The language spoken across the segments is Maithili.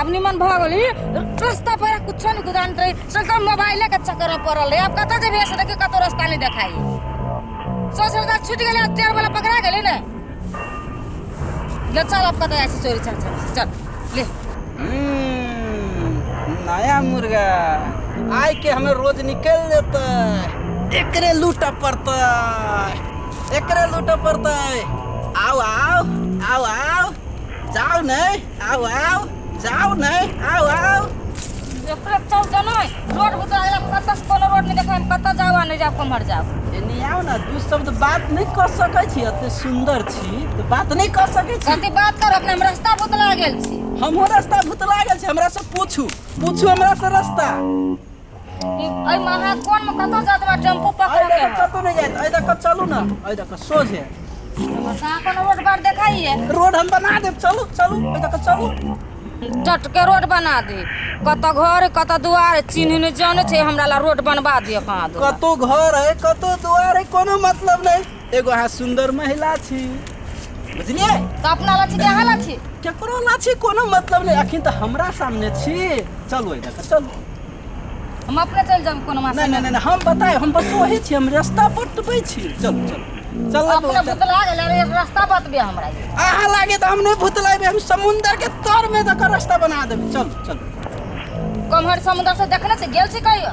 आब निमन भऽ गेली रस्ता पर कुछो नहि गुदान रही सगम मोबाइले के चक्कर में पड़ल रही अब कतऽ जेबी ऐसे देखियो कतौ रास्ता नहीं देखाई सोच रहा छूट गेले अब टेर वाला पकड़ा गेले ने ले चल अब कतऽ ऐसे चोरी चल चल चल ले हम्म, नया मुर्गा आय के हमें रोज निकल देता एकरे लूटा पड़ता एकरे लूटा पड़ता आओ आओ आओ आओ जाऊ नै आऊ आऊ जाऊ नै आऊ आऊ एकरे चल जनो रोड बुता आइला कतऽ से कोनो रोड नहि देखाइ कतऽ जाऊ आ नहि जाऊ कमहर जाऊ एने आऊ ना दू शब्द बात नै क सकै छी एते सुन्दर छी तऽ बात नै क सकै छी कथी बात कर अपने हम रास्ता बुतला गेल छी हमहूँ रास्ता भुतला गेल छी हमरा से पूछू पूछू हमरा से रास्ता एहिमे अहाँ कोनमे कतऽ जात बा टेम्पू पकड़ के कतौ नहि जायत एहि दऽ कऽ चलू ने एहि दऽ कऽ सोझे अहाँ कोनो रोड पर देखाइए रोड हम बना देब चलू चलू एहि दऽ कऽ चलू जटके रोड बना दे कतऽ घर कतऽ दुआर चिन्ह नहि जानै छै हमरा ला रोड बनबा दे कहाँ दो कतौ घर है कतौ दुआर है कोनो मतलब नहि एगो अहाँ सुंदर महिला छी बुझलिए तो अपना ला छी कि अहाँ ला छी केकरो ना छी कोनो मतलब नहीं अखन तो हमरा सामने छी चलो इधर से, चलो हम अपने चल जाब कोनो मास नहीं नहीं नहीं हम बताए हम बस वही छी हम रास्ता बतबै छी चलो चलो चलो अपने बौआ, चलो। भुतला गेल अरे रास्ता बतबे हमरा ई। अहाँ लागे तो हम नहीं भुतलाबे हम समुंदर के तर में दकर रास्ता बना देबे चलो चलो कमहर समुद्र से देखने से गेल छी कहियो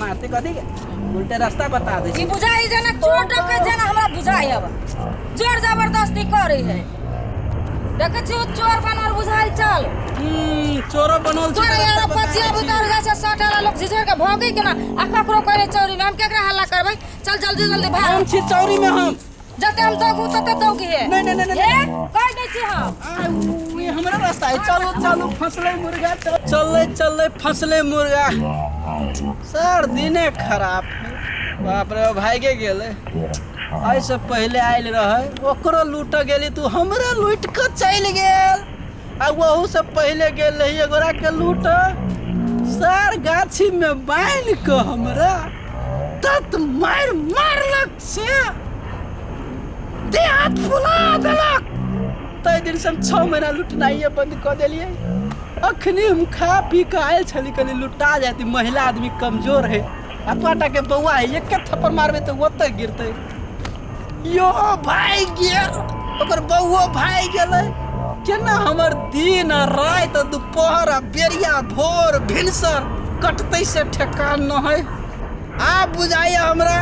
मारते कथी के उल्टे रास्ता बता दे ई बुझाई जना चोर डके जना हमरा बुझाई अब जोर जबरदस्ती करे है देखे छी ओ चोर बनल बुझाई चल हम्म, चोरो बनल छै, तोरे यार रास्ता बता पचिया दै छी। बुतर जा से सट वाला लोग झिझर के भोगी के ना आ ककरो करे चोरी में हम केकरा हल्ला करबै चल जल्दी जल्दी भाग हम छी चौरी में हम जते हम दगू तते दौगी है नहीं नहीं नहीं ए कह दै छी हम नहीं हमरा रास्ता है चलो चलो फसले मुर्गा चल चले चले फसले मुर्गा सर दिने खराब बाप रे भाई के गेले आई से पहले आयल रहे ओकरो लूट गेली तू हमरा लूट के चल गेल आ वहू से पहले गेल रही एगोरा के लूट सर गाछी में बांध के हमरा तत मार मारलक से देह हाथ फुला देलक ताहि दिन से हम छओ महीना लुटनाइए बंद कऽ देलियै अखनी हम खा पी कऽ आयल छली कनी लुटा जाती महिला आदमी कमजोर है आ पाटा के बौआ है एक थप्पड़ मारबे तऽ ओतऽ गिरतै यो भाई गेल ओकर बौओ भाई गेलै केना हमर दिन आ राति आ दुपहर आ बेरिया भोर भिनसर कटतै से ठेकान न है आब बुझाइए हमरा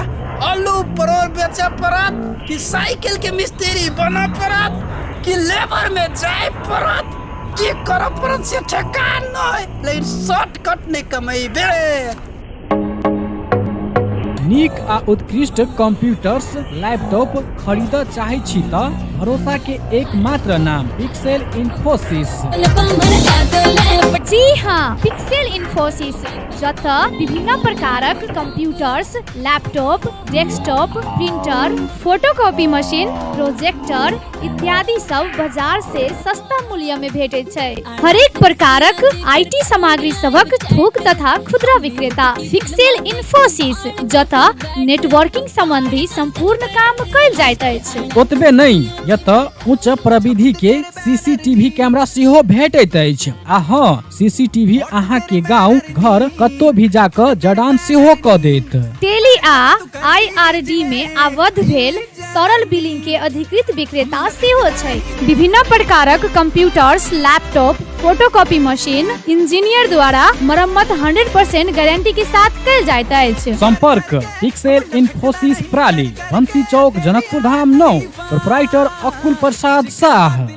आलू परोर बेचय पड़त कि साइकिल के मिस्त्री बनय पड़त कि लेबर में जाय पड़त की करऽ पड़त से ठेकान नहि लेकिन शॉर्टकट नहि कमेबे नीक आ उत्कृष्ट कंप्यूटर्स लैपटॉप खरीद चाहे छी त भरोसा के एकमात्र नाम पिक्सेल इन्फोसिस जी हाँ पिक्सेल इन्फोसिस जतय विभिन्न प्रकारक computers laptop desktop printer photocopy machine projector इत्यादि सब बाजार से सस्ता मूल्य में भेटे छै हरेक प्रकारक आईटी सामग्री सबक थोक तथा खुदरा विक्रेता फिक्सेल इन्फोसिस जतय नेटवर्किंग संबंधी संपूर्ण काम कल जाइत अछि ओतबे नहीं यत उच्च प्रविधि के सीसीटीवी कैमरा सेहो भेटैत अछि आ हाँ सीसीटीवी अहाँ के गांव घर कत्तो भी जाकर जडान सेहो क देत टेली आ आईआरडी मे आबद्ध भेल सरल बिलिंग के अधिकृत विक्रेता सेहो छै विभिन्न प्रकारक computers laptop photocopy machine engineer द्वारा मरम्मत 100% गारंटी के साथ कल जाइत अछि संपर्क पिक्सेल इन्फोसिस प्राली बंसी चौक जनकपुर धाम नौ प्रोपराइटर अकुल प्रसाद साह